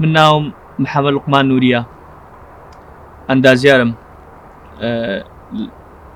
من ناوم محەمەد لوقمان نوریە ئەندازیارم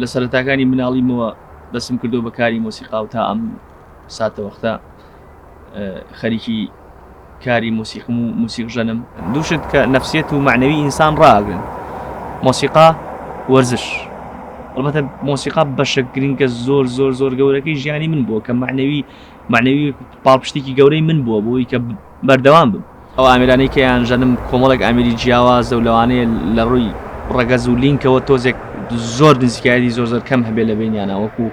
لە سەرەتاکانی مناڵیمەوە دەسم کردو بە کاری مۆسیقا و تا ئەم ساتە وەختە خەریکی کاری موسیقم و موسیق ژەنم دووشت کە نفسێت و معنەوی ئینسان ڕاگرن مۆسیقا وەرزش البته مۆسیقا بەشە گرنگە زۆر زۆر زۆر گەورەکەی ژیانی من بووە کە معنەوی معنەوی پاڵپشتێکی گەورەی من بووە بۆی کە بەردەوام بم. ئەو ئامێرانەی کە ئەیانژەنم کۆمەڵێک ئامێری جیاوازە و لەوانەیە لە ڕووی ڕەگەز و لینکەوە تۆزێک زۆر نزیکایەتی زۆر زۆر کەم هەبێت لە بەینیانا وەکو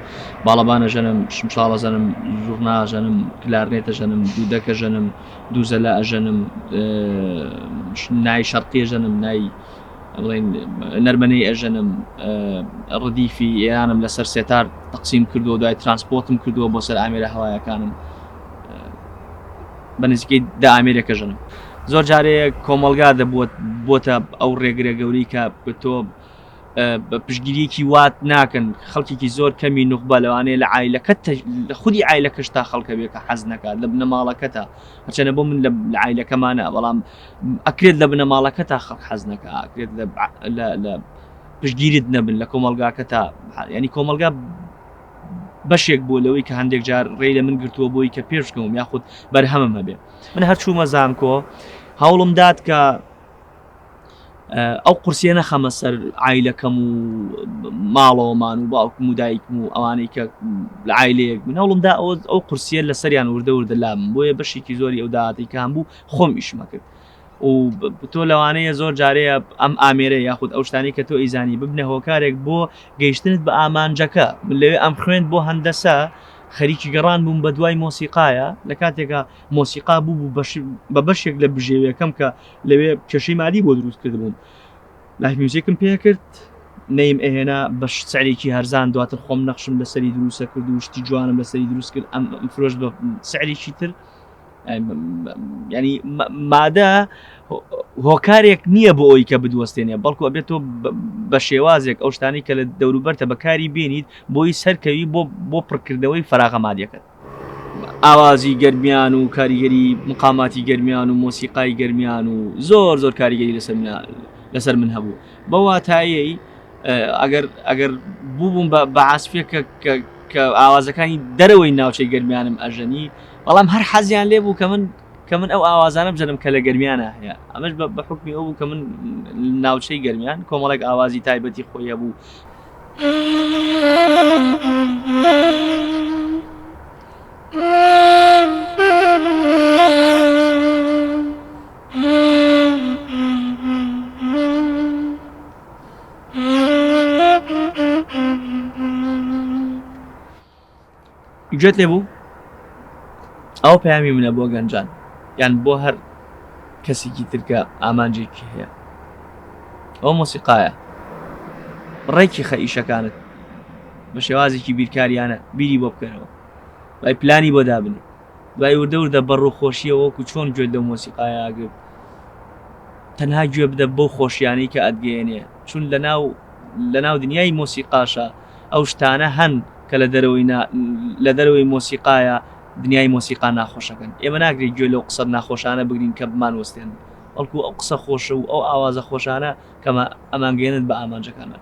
باڵەبان ئەژەنم، شمشاڵ ئەژەنم، زوڕنا ئەژەنم، کلارنێت ئەژەنم، دودەک ئەژەنم، دووزەلە ئەژەنم، نای شەرقی ئەژەنم، نای بڵێین نەرمەنەی ئەژەنم، ڕدیفی ئێرانم لەسەر سێتار تەقسیم کردووە و دوای ترانسپۆتم کردووە بۆ سەر ئامێرە هەوایەکانم. بە نزیکەی دە ئامێرێک ئەژەنم. زۆر جارێ کۆمەڵگا دەبووە بۆتە ئەو ڕێگرە گەورەی کە تۆ پشگیریەکی وات ناکەن خەڵکیکی زۆر کەمی نوخبە لەوانەیە لە ئایلەکەت لە خودی ئایلەکەش تا خەڵکە بێ کە حەز نەکات لە بنەماڵەکە تا هەچەنە بۆ من لە ئایلەکەمانە بەڵام ئەکرێت لە بنەماڵەکە تا خەڵک حەز نەکە ئەکرێت لە پشگیرت نەبن لە کۆمەلگاکە تا ینی کۆمەلگا بەشێک بووە لەوەی کە هەندێک جار ڕێی لە من گرتووە بۆی کە پێش بکەوم یاخود بەرهەمم هەبێ من هەرچوومە زانکۆ هەوڵم داد کە ئەو قورسیە نەخەمە سەر ئایلەکەم و ماڵەوەمان و باوکم و دایکم و ئەوانەی کە لە ئایلەیەک من هەوڵم دا ئەو قورسیە لە سەریان وردە وردە لام بۆیە بەشێکی زۆری ئەو دااتیکان بوو خۆم ئیشمەکرد و تۆ لەوانەیە زۆر جارەیە ئەم ئامێرە یاخود ئەو شتانەی کە تۆ ئەیزانی ببنە هۆکارێک بۆ گەیشتنت بە ئامانجەکە من لەوێ ئەم خوێند بۆ هەندەسە خەریکی گەڕان بووم بە دوای مۆسیقایە لە کاتێکا مۆسیقا بوو بە بەشێک لە بژێویەکەم کە لەوێ کێشەی مادی بۆ دروست کرد بووم لایف میوزیکم پێ کرد نەیم ئەهێنا بە سعرێکی هەرزان دواتر خۆم نەخشم لەسەری دروستە کرد و شتی جوانم لەسەری دروست کرد ئەم فرۆش بە سعرێکی تر یانی مادە هۆکارێک نییە بۆ ئەوی کە بدوەستێنێ بەڵکو ئەبێت تۆ بە شێوازێک ئەو شتانی کە لە دەوروبەرتە بەکاری بینیت بۆی سەرکەوی بۆ بۆ پڕکردنەوەی فراغە مادەکەت ئاوازی گەرمیان و کاریگەری مقاماتی گەرمیان و مۆسیقای گەرمیان و زۆر زۆر کاریگەری لەسەر لەسەر من هەبوو بە واتایی ئەگەر ئەگەر بووبووم بە بەعاسفێک کە ئاوازەکانی دەرەوەی ناوچەی گەرمیانم ئەژەنی بەڵام هەر حەزیان لێ بوو کە من کە من ئەو ئاوازانە بژەنم کە لە گەرمیانە هەیە، ئەمەش بە حوکمی ئەو بوو کە من ناوچەی گەرمیان کۆمەڵێک ئاوازی تایبەتی خۆی هەبوو. گوێت لێ بوو؟ ئەوە پەیامی منە بۆ گەنجان یان بۆ هەر کەسێکی تر کە ئامانجێکی هەیە. ئەوە مۆسیقایە. ڕێکی خە ئیشەکانت بە شێوازێکی بیرکارییانە بیری بۆ بکەرەوە. دوای پلانی بۆ دابنێ. دوای وردە وردە بە ڕووخۆشییەوە وەکو چۆن گوێت لەو مۆسیقایە ئەگرت تەنها گوێ بدە بەو خۆشییانەی کە ئەتگەیەنێ چون لەناو لەناو دنیای مۆسیقاشا ئەو شتانە هەن کە لە دەرەوەی نا لە دەرەوەی مۆسیقایە دنیای مۆسیقا ناخۆشەکەن ئێمە ناکرێ گوێ لەو قسە ناخۆشانە بگرین کە بمانوەستێنن بەڵکو ئەو قسە خۆشە و ئەو ئاوازە خۆشانە کە ئەمانگەیەنن بە ئامانجەکانمان.